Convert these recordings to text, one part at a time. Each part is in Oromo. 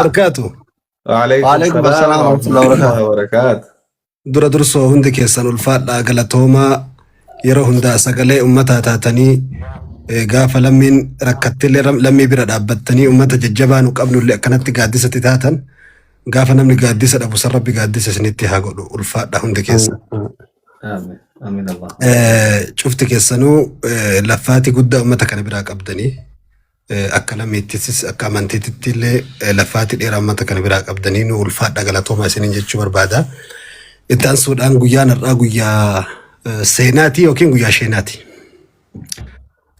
barakaatu. Waalaikum Waalaikum salaam assalam wa warahmatullahi rahmatullahi wabarakaatu. wabarakaatu. Dura dursoo hundi keessan ulfaadhaa galatoomaa yeroo hundaa sagalee ummataa taatanii eh, gaafa lammiin rakkattillee ram- lammii bira dhaabbattanii ummata jajjabaa nu qabnullee akkanatti gaaddisatti taatan gaafa namni gaaddisa dhabu san rabbi gaaddisa isinitti haa godhu ulfaadhaa hundi keessan. Amiin. Amiin Allah. Eh, Cufti keessanuu eh, laffaatii guddaa ummata kana biraa qabdanii Akka lameettis akka amantiititti illee laffaatti dheeraa uummata kana biraa qabdanii nu ulfaadha galatooma isiniin jechuu barbaada. Itti aansuudhaan guyyaan har'aa guyyaa seenaati yookiin guyyaa sheenaati.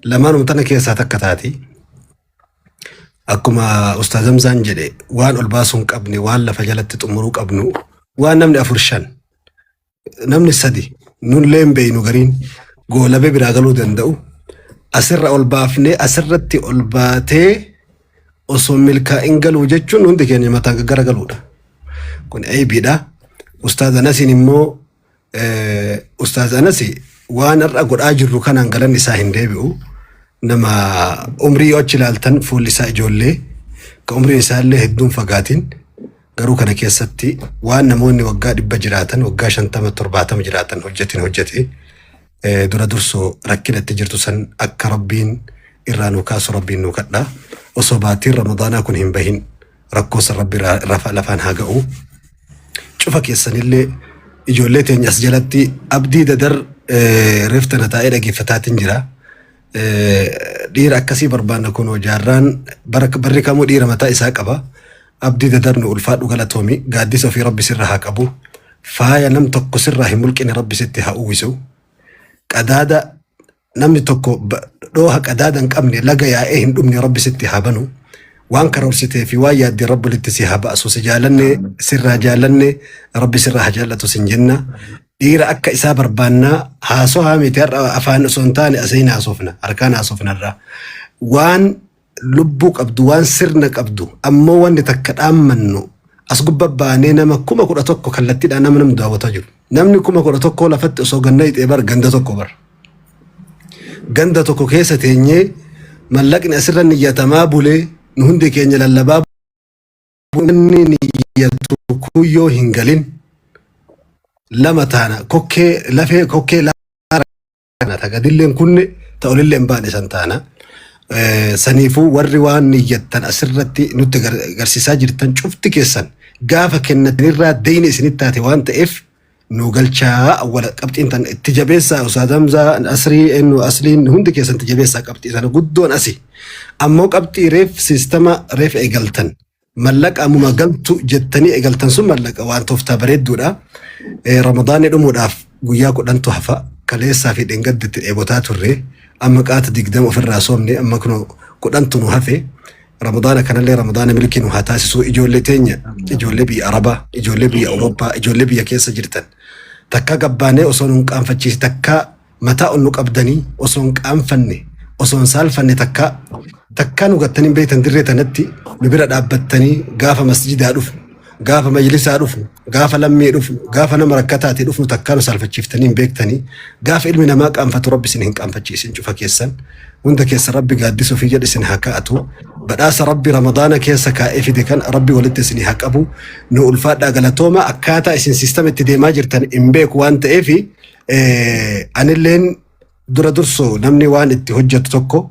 Lamaanuma tana keessaa takka taati. Akkuma Ustaaz Hamzaan jedhe waan ol baasuu hin qabne waan lafa jalatti xumuruu qabnu waan namni afur shan namni sadi nullee hin beeynu gariin goolabee biraa galuu danda'u asirra ol baafnee asirratti ol baatee osoo milkaa'in galuu jechuun hundi keenya mataan gaggara galuudha. Kun eebiidha. Ustaaz Anasiin immoo eh, Ustaaz Anasi waan har'a godhaa jirru kanaan galan isaa hin deebi'u. Nama umrii yoo achi ilaaltan fuulli isaa ijoollee kan umriin isaa illee hedduun fagaatiin Garuu kana keessatti waan namoonni waggaa dhibba jiraatan, waggaa shantama, torbaatama jiraatan hojjetin hojjete eh, dura dursoo rakkina itti jirtu san akka rabbiin irraa nuu kaasu rabbiin nuu kadha. Osoo baatiin Ramadaanaa kun hin bahin rakkoo san rabbi irraa- rafa- lafaan haa ga'u. Cufa keessanillee ijoollee teenya as jalatti abdii dadar eh, reefta na taa'ee dhaggeeffataatiin jira. Dhiira akkasii barbaanna kunoo jaarraan barri kamuu dhiira mataa isaa qaba. Abdii dadar nu ulfaadhu galatoomi gaaddisa ofii rabbi sirra haa qabu. Faaya nam tokko sirraa hin mulqine rabbi sitti haa uwwisu. Qadaada namni tokko dhooha qadaada hin qabne laga yaa'ee hin dhumne rabbi sitti haa banu. Waan karoorsitee fi waan yaaddee rabbi walitti si haa baasu si jaalanne sirraa jaalanne rabbi sirraa haa jaallatu sin jenna. Dhiira akka isaa barbaannaa haasohaa miti har'a afaan osoo hin taane asiin haasofna harkaan haasofna irraa waan lubbuu qabdu waan sirna qabdu ammoo wanti takka dhaammannu as gubba baanee nama kuma kudha tokko kallattiidhaan nama namni daawwataa jiru namni kuma kudha tokkoo lafatti osoo ganna hixee bar ganda tokko bar ganda tokko keessa teenyee mallaqni asirra niyyatamaa bulee nu hundi keenya lallabaa wanni niyyattu kuyyoo hin galin lama taana kokkee lafee kokkee laana ta gadilleen kunne ta olilleen baane san taana. Eh, Saniifuu warri waan niyyattan asirratti nutti gar- garsiisaa jirtan cufti keessan gaafa kennatanirraa deeyne isinitti taate waan ta'eef nuu galchaa awwala qabxiin tan itti jabeessaa ustaaz Hamzaa asrii ennu asliin hundi keessan itti jabeessaa qabxii sana guddoon asi ammoo qabxii reef siistama reef eegaltan mallaqa ammuma galtu jettanii eegaltan sun mallaqa waan tooftaa bareedduudha Eh, ramadaanni dhumuudhaaf guyyaa kudhantu hafa kaleessaa fi dheengadditti dheebotaa turre amma qaata digdama ofirraa soomne amma kunoo kudhantu nu hafe Ramadaana kanallee Ramadaana milkii nu haa taasisuu ijoollee teenya ijoollee biyya Arabaa ijoollee biyya Awurooppaa ijoollee biyya keessa jirtan takkaa gabbaanee osoo nu hin qaanfachiisi takkaa mataa ol nu qabdanii osoo hin qaanfanne osoo hin saalfanne takkaa takkaa nu gattanii hin beektan dirree tanatti nu bira dhaabbattanii gaafa masjidaa dhufnu gaafa majlisaa dhufnu gaafa lammii dhufnu, gaafa nama rakkataati dhufnu takkaa nu saalfachiiftanii hin beektanii, gaafa ilmi namaa qaanfatu rabbi isin hin qaanfachiisin cufa keessan, hunda keessa rabbi gaaddisa ofii jedhe isin haa kaa'atu, badhaasa rabbi ramadaana keessa kaa'ee fide kan rabbi walitti isin haa qabu, nu ulfaadhaa galatooma akkaataa isin siistama itti deemaa jirtan hin beeku waan ta'eef anilleen dura dursoo namni waan itti hojjetu tokko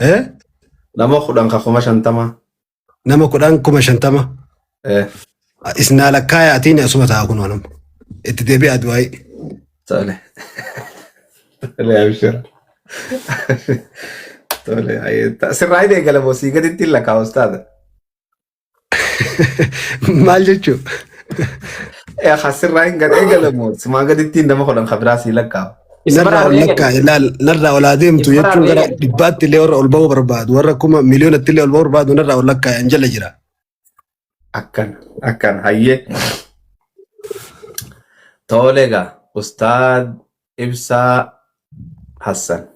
Eh? Nama kudhan ka kuma shantamaa. Nama kudhan kuma shantama. Eh, Isnaa lakkaaya atiin asuma ta'a kun wanam. Itti deebi'aa du'aayi. tole. Tole, abshir. Tole, ayee. Ta- Sirraa hin eegalamoo sii gaditti hin lakkaa'u ustaaza. Maal jechuu? Ee hasirraa hin gadhee galamu. Simaa gadittiin nama kudhan kabiraa sii lakkaa'u. Isa Narraa biraa ol lakkaa ilaal narraa ol haa deemtu Isa biraa jechuun gara eegalu. dhibbaatti illee warra ol ba'uu barbaadu warra kuma miliyoonatti illee ol ba'uu barbaadu narraa ol lakkaa hin jala jira. Akkana akkana hayyee. Toolee gaa ustaad Ibsaa Hassan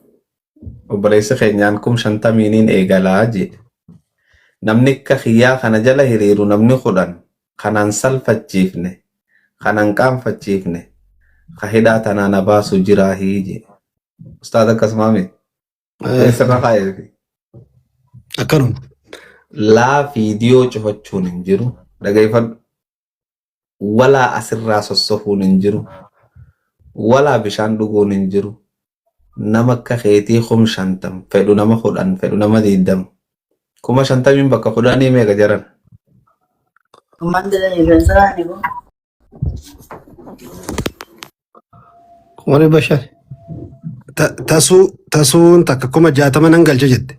obboleessi keenyaan kum shantamiiniin eegalaa jedhe. Namni akka kiyyaa kana jala hiriiru namni kudhan kanan salfachiifne kanan qaanfachiifne ka hidhaa tanaa na baasu jiraahii jedhe. Ustaaz akkasumaa mee? Mee sirra kaa'eefi. Akkanuma. Laa fiidiyoo cufachuun hin jiru. Dhageeffadhu. walaa asirraa sossohuun hin jiru, walaa bishaan dhuguun hin jiru, nama akka keetii kum shantam, fedhu nama kudhan, fedhu nama diiddam, kuma shantamiin bakka kudhanii meeqa jaran? Kuma dhibba shan. Ta- Tasuu tasuun takka kuma jaatama nan galcha jette.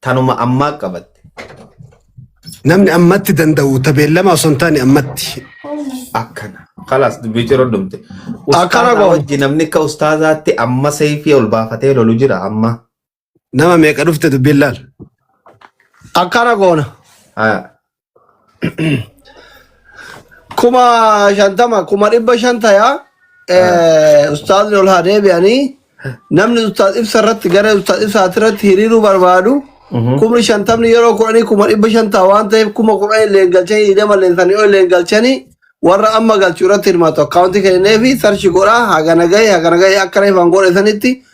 tanuma ammaa qabatte. Namni ammatti danda'u tabeellama osoo hin taane ammatti. Akkana. Kalaas dubbii ciroo dhumte. Akkana Ustaazaa goona. wajji namni akka ustaazaatti amma seeyfii ol baafatee lolu jira amma. Nama meeqa dhufte dubbiin laal. Akkana goona. Haa. kuma shantama kuma dhibba shan tayaa eh, ustaazni ol haa deebi'anii namni ustaaz ibsa irratti gara ustaaz ibsaati irratti hiriiruu barbaadu kumni shantamni yeroo kudhanii kuma dhibba shan ta'a waan ta'eef kuma kudhan illeen galchanii hidhama illeen sanii ol illeen galchanii warra amma galchu irratti hirmaatu akkaawuntii kennee fi sarchi godhaa hagana gahee hagana gahee akka reefan godhe sanitti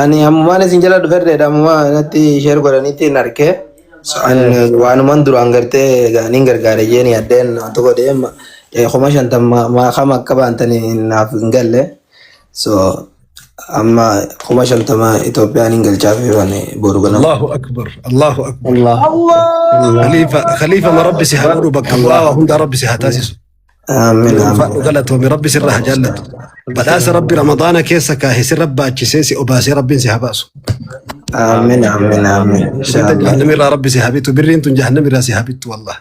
Ani ammumaan isin jala dhufedha ammumaa natti sheer godhanitti hin arke. So, an waanuman duraan gartee gaaniin gargaare jeen yaddeen waan tokko deem kuma shantam maakama akka baantan naaf hin galle. So amma kuma shantama Itoophiyaan hin galchaaf waan boru kana. Allahu akbar Allahu akbar Allah. Khalifa Khalifa ma rabbi si haa godhu bakka bu'aa waa hundaa rabbi si haa taasisu. Amiin. Amiin. Ulfaadhu galatoomi rabbi sirra haa jaallatu. Badhaasa rabbi ramadaana keessa kaahe si rabbaachisee si obaasee rabbiin si haa baasu. Amiin. Amiin. Amiin. Birriin Inshallah. jahannami irraa rabbi si haa bitu birriin tun jahannami irraa si haa bitu wallah.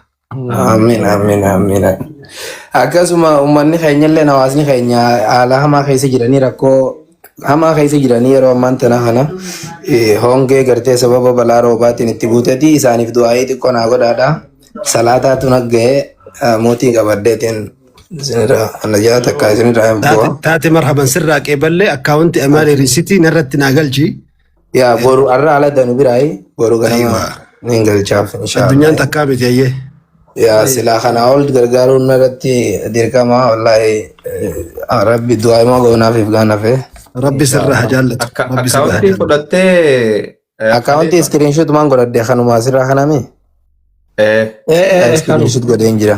Amiin. Amiin. Amiin. Akkasuma uummanni keenya illee hawaasni keenya haala hamaa keessa jiranii rakkoo hamaa keessa jiranii yeroo ammaan tana kana eh, hongee gartee sababa balaa roobaatiin itti buuteti isaaniif du'aa'ii xiqqoo naa godhaadha salaataatu nagga'ee eh, mootii qabadheetiin isinirraa ana ja'a takka isinirraa hin bu'a. taate taate marhaban sirraa qeeballee akkaawunti amaali riisitii narratti naa galchi Yaa boru arra ala danu biraayi boru ganama Aywa. nin galchaaf Addunyaan inshaallah. takkaa miti ayyee. Yaa silaa kana ol gargaaruun narratti dirqama wallaahi eh, rabbi du'aa imoo goonaaf if gaanafe. Rabbi sirraa haa jaallatu. Akka Rabbi sirraa haa akkaawuntii jaallatu. fudhattee eh, Akkaawuntii Khalifa. iskiriinshuut maan godhadde kanumaa sirraa kanami? Eh, Eh, eh, eh, kanu. Iskiriinshuut godheen jira.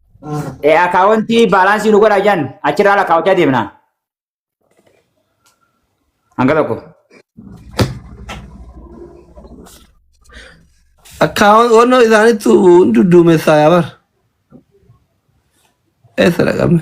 Eh, Akaawuntii baalaansii nu godhaa jiran achirraa lakkaa'achaa deemna. Hanga tokko. Akkaawwan wannoo isaaniitu hin dudduumessaa yaa bar. Eessa dhaqabne?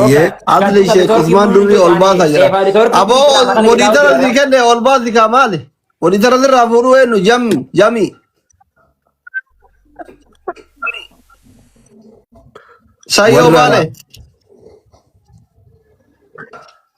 Ayyee asli ishee qusmaan durii ol baasa jira. Aboo walii dara si kenne ol baasi kaa maali? Walii dara sirraa fuudhuu eenyu jami jami. Sayyoo Warra- maale.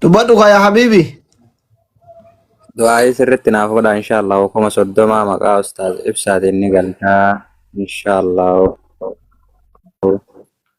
Dubbadhu kaa yaa habiibi. Du'aayii sirriitti naaf godha inshaallah kuma soddoma maqaa ustaaz ibsaatiin ni galtaa inshaallah.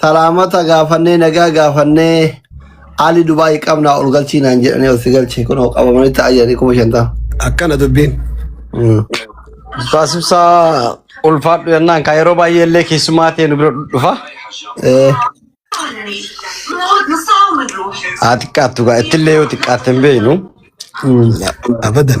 Salaamata gaafannee nagaa gaafannee Ali Dubaay qabnaa ol galchii naan jedhanii ol si galche kunoo qabamanii ta'aa jiranii kuma shantama. Akkana dubbiin. Taasifsaa ulfaadhu yennaan kaa yeroo baay'ee illee keessumaa ta'e nu bira dhufa. Eh, Haa xiqqaattu gaa ittillee yoo xiqqaatte hin beeknu. mm. Abadan.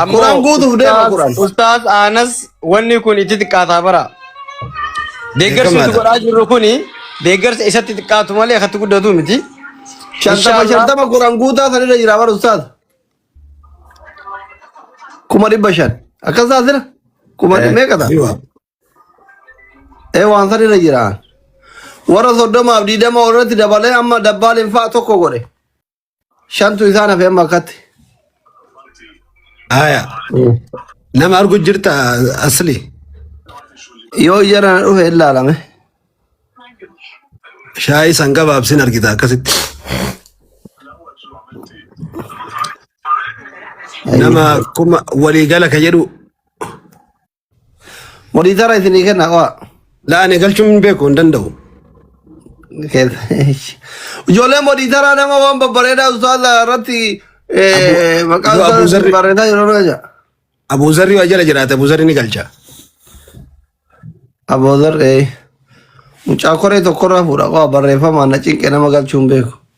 Ammoo Kuraan guutuuf deema ustaaz Kuraan. ustaaz Anas wanni kun itti xiqqaataa bara. Deeggarsi nuti Beekamaadha. godhaa jirru kun deeggarsa isatti xiqqaatu malee akkatti guddatu miti. Shantama Inshaallah. shantama Kuraan guutaa sanirra jira bara ustaaz. Kuma dhibba shan. Akkas ta'a jira. Kuma Eh, meeqa ta'a? jiwa. Ee waan sanirra jira. Warra soddomaaf diidama irratti dabalee amma dabbaaliin fa'a tokko godhe. Shantu isaan hafe amma akkatti. Aya. Nama argu jirta asli. Yoo jara na dhufe ilaalame. Shaayii san gabaabsin argita akkasitti. Nama kuma waliigala ka jedhu Monitora isinii kenna qo'a. Laa ani galchuun hin beeku hin danda'u. Ijoollee monitaraa nama waan babbareedaa ustaaza irratti eh, maqaa Abu- Abu ustaaza Zarri. barreessaa jiru irra jira. Abuuzarri waa jala jiraate abuuzarri ni galcha. Aboodar ee mucaa koree tokkorraa fuudha qofa barreeffamaan na cinqe nama galchuun beeku.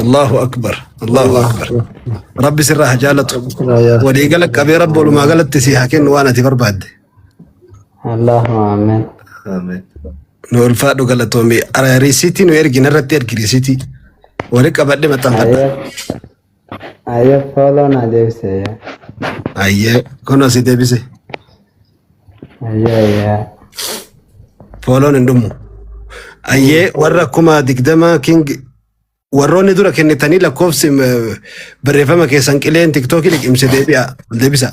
Allahu akbar Allahu akbar rabbi sirraa haa jaalatu walii gala qabee rabbi walumaa galatti si haa kennu waan ati barbaadde Allahumma amen. Amen. nu ulfaadhu galatoomi Ara- risiitii nu ergin irratti ergi risiitii wali qabadhe maxxanfadha Ayyee. Ayyee fooloo naa deebisee yaa. Ayyee kun asii deebise. Ayyee ayyee. Fooloon hin dhumu. Ayyee warra kuma digdama king warroonni dura kennitanii lakkoofsi eh, barreeffama keessan qileen tiktookii liqimse deebi'a deebisa.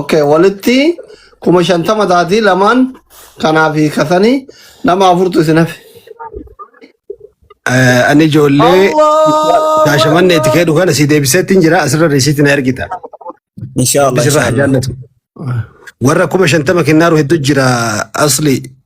Okay, walitti kuma shantama taatii lamaan kanaa fi kasanii nama afurtu isin hafe. Eh, Ani ijoollee Allah! shaashamanne itti keedhu kana si deebiseetti hin jira asirra risiitti na ergita. Inshallah Bisirra haa inshallah. jaallatu. Warra kuma shantama kennaaru hedduu jira asli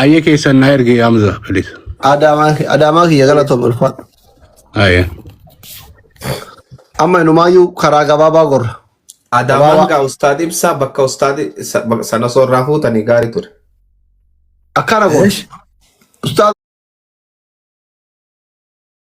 Aye kesan na erge Hamza please. Adaamaa Adaamaa kiyya galatoom ulfaadhu. Aye. Amma inumaayyuu karaa gabaabaa gorra. Adaamaan Gabaabaa gaa ustaad ibsaa bakka ustaad isa- bak- sana osoo irraa fuutanii gaarii ture. akkana goona. Ustaaz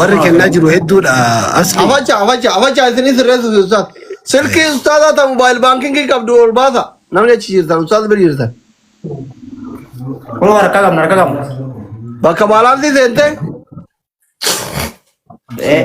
Warri kennaa jiru hedduudha asli. Afacha afacha afacha isinii sirreessuuf ustaaz. Silkii ustaazaa ta mobaayil baankingii qabdu ol baasa. Namni achi jirtan ustaaz bira jirtan. Kun harka qabna harka qabna. Bakka baalaansii seentee Eh,